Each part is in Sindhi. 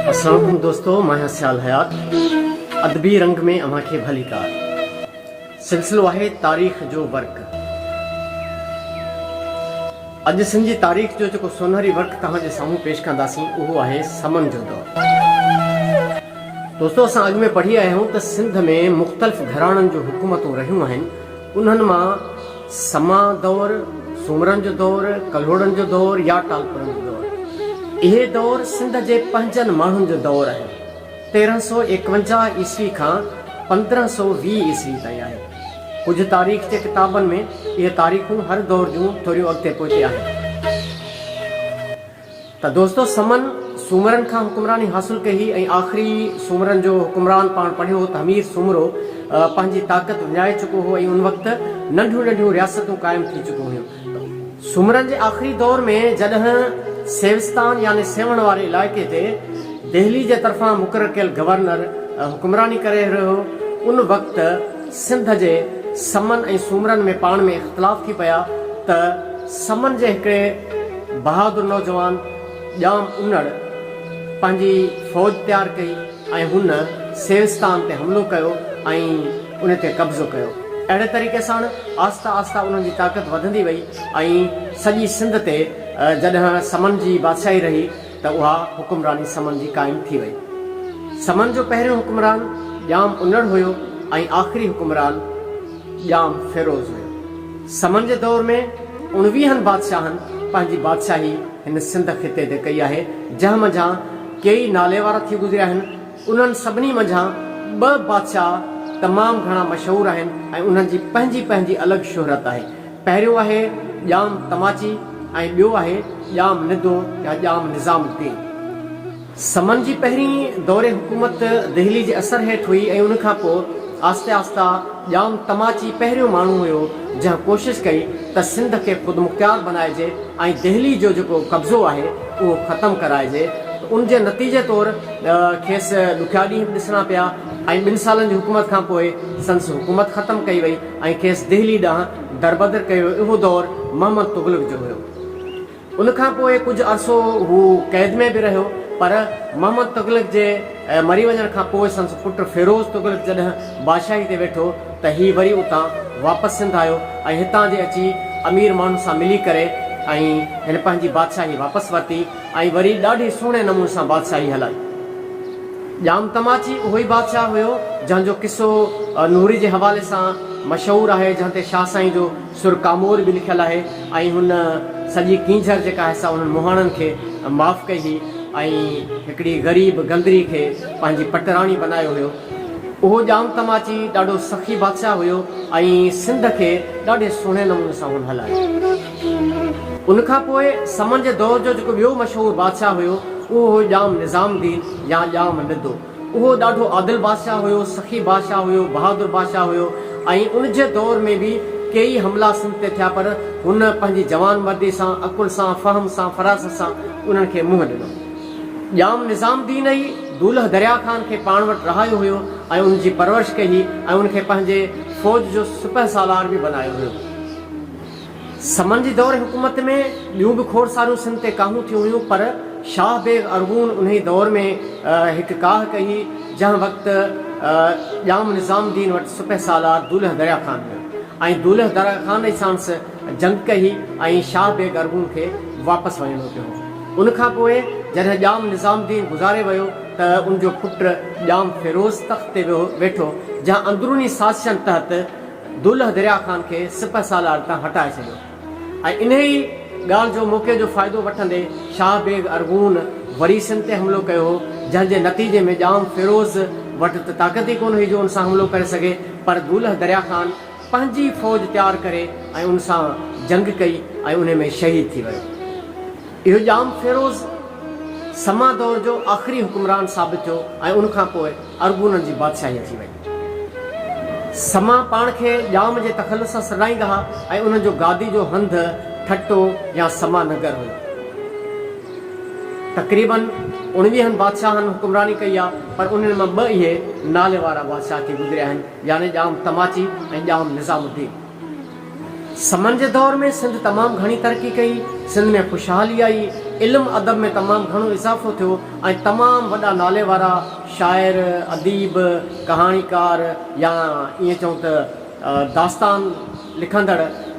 السلام عليڪم دوستو مان آهيان سيال حيات ادبي رنگ ۾ اوهان کي ڀليڪار سلسلو آهي تاريخ جو ورق اڄ سنڌ جي تاريخ جو جيڪو سونهري ورق توهان جي سامهون پيش ڪنداسين اهو آهي سمن جو دور دوستو اسان اڳ ۾ پڙهي آيا آهيون ته سنڌ ۾ مختلف گهراڻن جون حڪومتون رهيون آهن انهن مان سما دؤر، سومرن جو دؤر، ڪلهوڙن جو دؤر يا ٽالپرن جو دؤر. اهي دؤر سنڌ جي پنهنجن ماڻهن جو دؤر آهن. تيرهن سؤ ايڪونجاهه عيسوي کان پندرهن سؤ ويهه عيسوي تائين آهي. ڪجهه تاريخ جي ڪتابن ۾ اهي تاريخون هر دؤر جون ٿوريون اڳتي پوئتي آهن. ته دوستو سمن سومرن کان حڪمراني حاصل ڪئي هئي ۽ آخري سومرن جو حڪمران پاڻ پڙهيو هو ته همير سومرو پنهنجي طاقت وڃائي چڪو هو ۽ ان وقت ننڍيون ننڍيون رياستون قائم ٿي چڪيون هيون سومرن جي آخري دور ۾ جڏهن سيوستان يعني سيوهڻ واري علائقي تي دهلي جي طرفان مقرر ڪيل گورنر حڪمراني ڪري رهيو هو ان وقت سنڌ جي سمن ۽ سومرن ۾ پاڻ ۾ اختلاف ٿي پيا ته سمن جي هڪڙي بهادر نوجوان ڄام انڙ پنهنجي فوج تيار ڪئي ۽ هن سيوستان تي حملو ڪيو ۽ ان تي قبضو ڪيو. اهڙي طريقي سان آهسته آهسته انهن جي طاقت وڌندي وئي ۽ سڄي سنڌ تي جڏهن سمن جي بادشاهي رهي ته اها حڪمراني سمن جي قائم ٿي وئي. سمن جو پهريون حڪمران ڄام انڙ هيو ۽ آخري حڪمران ڄام فيروز هيو. سمن جي دور ۾ اڻويهن بادشاهن پنهنجي بادشاهي هن سنڌ خطي تي ڪئي آهي، جنهن منجهان ڪيئي ناليوارا ٿي گذريا آهن. انهن سڀني منجهان ٻه بادشاهه تمام گهڻا مشهور آهن ۽ انهن جي پنهنجي پنهنجي الڳ شهرت آهي. پهريون آهي ڄام تماچي ۽ ٻيو آهي ڄام ندو يا ڄام نظام الدين. سمن جي پهرين دور حڪومت دهلي جي اثر هيٺ هئي ۽ ان کان پوء آهستي آهسته ڄام تماچي پهريون ماڻهو هيو جنهن ڪوشش ڪئي ته سنڌ کي خودمختيار بنائجي ۽ دهلي جو جيڪو قبضو آهي اهو ختم ڪرائجي ته ان جي نتيجي طور کيس ڏکيا ڏينهن به ڏسڻا پيا ۽ ٻن سالن جي حڪومت کان پوء سندس حڪومت ختم ڪئي وئي. ۽ کيس دهلي ڏانهن دربدر ڪيو اهو دور محمد تغلق جو هيو ان کان پوء ڪجهه عرصو هو قيد ۾ به رهيو پر محمد تغلق جي مري وڃڻ کان پوء سندس پٽ فيروز تغلق جڏهن بادشاهي تي ويٺو ته هي وري اتان واپس سنڌ آيو ۽ هتان جي اچي امير ماڻهن سان ملي ڪري ۽ هن پنهنجي بادشاهي واپس ورتي. ۽ وري ڏاڍي سهڻي نموني سان بادشاهي هلائي. ڄام تماچي اهو ئي بادشاهه هيو، جنهن جو قصو نوري جي حوالي سان مشهور آهي، جنهن تي شاهه سائين جو سر ڪامور به لکيل آهي ۽ هن سڄي ڪينجهر جيڪا آهي سا انهن مهاڻن کي معاف ڪئي هئي ۽ هڪڙي غريب گندري کي پنهنجي پٽراڻي بنايو هيو. اهو ڄام تماچي ڏاڍو سخي بادشاهه هيو ۽ سنڌ کي ڏاڍي سهڻي نموني سان هن هلايو. ان کان پوء سمن جي دور جو جيڪو ٻيو مشهور بادشاهه هيو، اهو هيو ڄام نظام الدين يا ڄام ندو. اهو ڏاڍو عادل بادشاهه هيو، سخي بادشاهه هيو، بهادر بادشاهه هيو ۽ ان جي دور ۾ به ڪيئي حملا سنڌ تي ٿيا پر هن پنهنجي جوانمردي سان، عقل سان، فهم سان، فراست سان انهن کي منهن ڏنو. ڄام نظام الدين ئي دولهه دريا خان کي پاڻ وٽ رهايو هيو ۽ ان جي پرورش ڪئي هئي ۽ ان کي پنهنجي فوج جو سپهه سالار به بنايو هيو. سمن جي دور حڪومت ۾ ٻيون به کوڙ ساريون سنڌ تي ڪاهون ٿيون هيون پر شاهه بيگ ارغون انهي دور ۾ هڪ ڪاهه ڪهي جنهن وقت ڄام نظام الدين وٽ سپهه سالار دولهه دريا خان هيو ۽ دولهه دريا خان ئي ساڻس جنگ ڪهي ۽ شاهه بيگ ارغون کي واپس وڃڻو پيو ان کان پوء جڏهن ڄام نظام الدين گذاري ويو ته ان جو پٽ ڄام فيروز تخت تي ويٺو جنهن اندروني سازشن تحت دولهه دريا خان کي سپهه سالار تان هٽائي ڇڏيو ۽ انهيء ڳالهه جو موقعي جو فائدو وٺندي شاهه بيگ ارغون وري سنڌ تي حملو ڪيو هو، جنهن جي نتيجي ۾ ڄام فيروز وٽ ته طاقت ئي ڪونه هئي جو ان سان حملو ڪري سگهي، پر دولهه دريا خان پنهنجي فوج تيار ڪري ۽ ان سان جنگ ڪئي ۽ انهي ۾ شهيد ٿي ويو. اهو ڄام فيروز سما دور جو آخري حڪمران ثابت ٿيو ۽ ان کان پوء ارغونن جي بادشاهي اچي وئي. سما پاڻ کي ڄام جي تخلص سان سڏائيندا ها ۽ انهن جو گادي جو هنڌ ٺٽو يا سما نگر هيو. تقريباً اوڻويهن بادشاهن حڪمراني ڪئي آهي پر انهن مان ٻه اهي نالي وارا بادشاهه ٿي گذريا آهن يعني ڄام تماچي ۽ ڄام نظام الدين. سمن جي دور ۾ سنڌ تمام گهڻي ترقي ڪئي، سنڌ ۾ خوشحالي آئي، علم ادب ۾ تمام گهڻو اضافو ٿيو ۽ تمام وڏا نالي وارا شاعر، اديب، ڪهاڻيڪار يا ائين چئون ته داستان لکندڙ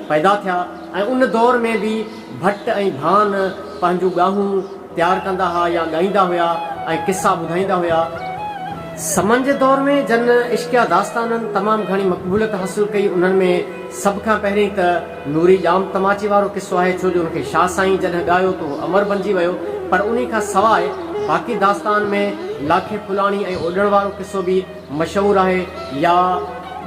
پيدا ٿيا ۽ ان دور ۾ به ڀٽ ۽ ڀان پنهنجون ڳاهون تيار ڪندا ها يا ڳائيندا هيا ۽ قصا ٻڌائيندا هيا. سمن جي دور ۾ جن عشقيه داستانن تمام گهڻي مقبوليت حاصل ڪئي انهن ۾ سڀ کان پهرين ته نوري ڄام تماچي وارو قصو آهي ڇو جو ان کي شاهه سائين جڏهن ڳايو ته هو امر بنجي ويو پر انهي کان سواء باقي داستان ۾ لاکي ڦلاڻي ۽ اوڏڻ وارو قصو به مشهور آهي يا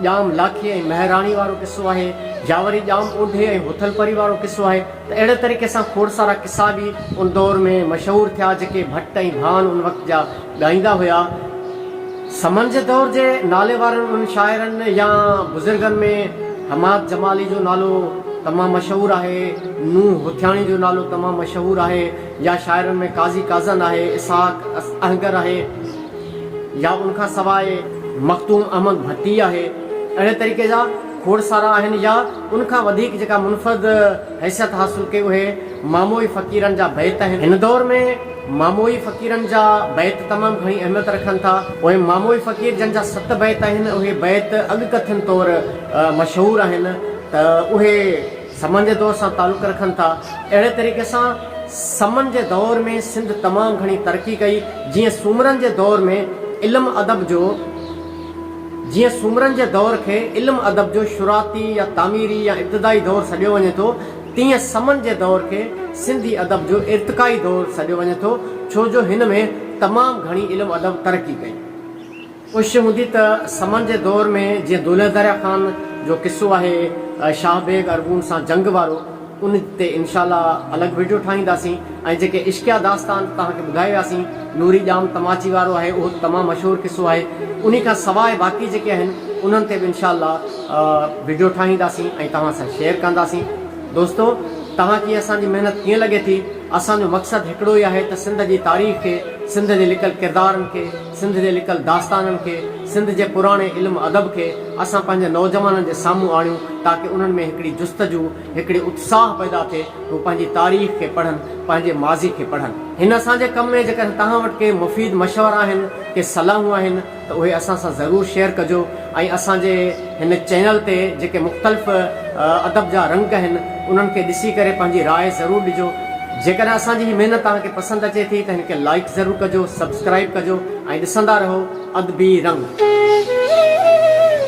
ڄام لاکي ۽ مهراڻي وارو قصو آهي يا وري ڄام اوڍي ۽ هٿل پري وارو قصو آهي. ته اهڙي طريقي سان کوڙ سارا قصا به ان دور ۾ مشهور ٿيا جيڪي ڀٽ ۽ ڀان ان وقت جا ڳائيندا هيا. سمن جي دور جي نالي وارن انهن شاعرن يا بزرگن ۾ حماد جمالي جو نالو تمام مشهور آهي، نوح هوٿياڻي جو نالو تمام مشهور آهي يا شاعرن ۾ قاضي قازن آهي، اسحاق اهنگر آهي يا ان کان سواء مخدوم احمد ڀٽي آهي. اهڙي طريقي جا کوڙ سارا آهن يا. ان کان وڌيڪ جيڪا منفرد حيثيت حاصل ڪئي اهي ماموئي فقيرن جا بيت آهن. هن دور ۾ ماموئي فقيرن جا بيت تمام گهڻي اهميت رکن ٿا. اهي ماموئي فقير جن جا ست بيت آهن اهي بيت اڳ ڪٿن طور مشهور آهن ته اهي سمن جي دور سان تعلق رکن ٿا. اهڙي طريقي سان سمن جي دور ۾ سنڌ تمام گهڻي ترقي ڪئي جيئن سومرن جي دور ۾ علم ادب جو جيئن سومرن جي دور کي علم ادب جو شروعاتي يا تعميري يا ابتدائي دور سڏيو وڃي ٿو، تيئن سمن جي دور کي سنڌي ادب جو ارتقائي دور سڏيو وڃي ٿو، ڇو جو هن ۾ تمام گهڻي علم ادب ترقي ڪئي. ڪوشش هوندي ته سمن جي دور ۾ جيئن دولهدريا خان جو قصو آهي شاهه بيگ ارغون سان جنگ وارو، ان تي انشاء الله الڳ وڊيو ٺاهينداسين ۽ جيڪي عشقيه داستان توهان کي ٻڌائي وياسين نوري ڄام تماچي وارو آهي اهو ته تمام مشهور قصو آهي انهي کان سواء باقي جيڪي آهن انهن تي به انشاء الله وڊيو ٺاهينداسين ۽ توهان سان شيئر ڪنداسين دوستو توهان کي اسان جي محنت ڪيئن لڳي ٿي اسان جو مقصد هڪڙو ئي آهي ته سنڌ جي تاريخ کي سنڌ جي لڪل ڪردارن کي سنڌ جي لڪل داستانن کي سنڌ جي پراڻي علم ادب کي اسان پنهنجي نوجوانن جي سامهون آڻيون تاڪه انهن ۾ هڪڙي جستجو هڪڙي اتساهه پيدا ٿئي ته هو پنهنجي تاريخ کي پڙهن، پنهنجي ماضي کي پڙهن. هن اسان جي ڪم ۾ جيڪڏهن توهان وٽ ڪي مفيد مشورا آهن، ڪي صلاحون آهن ته اهي اسان سان ضرور شيئر ڪجو ۽ اسان جي هن چينل تي جيڪي مختلف ادب جا رنگ آهن انهن کي ڏسي ڪري پنهنجي راء ضرور ڏجو. جيڪڏهن اسان جي هي محنت توهان کي پسند اچي ٿي ته هن کي لائيڪ ضرور ڪجو، سبسڪرائيب ڪجو ۽ ڏسندا رهو ادبي رنگ.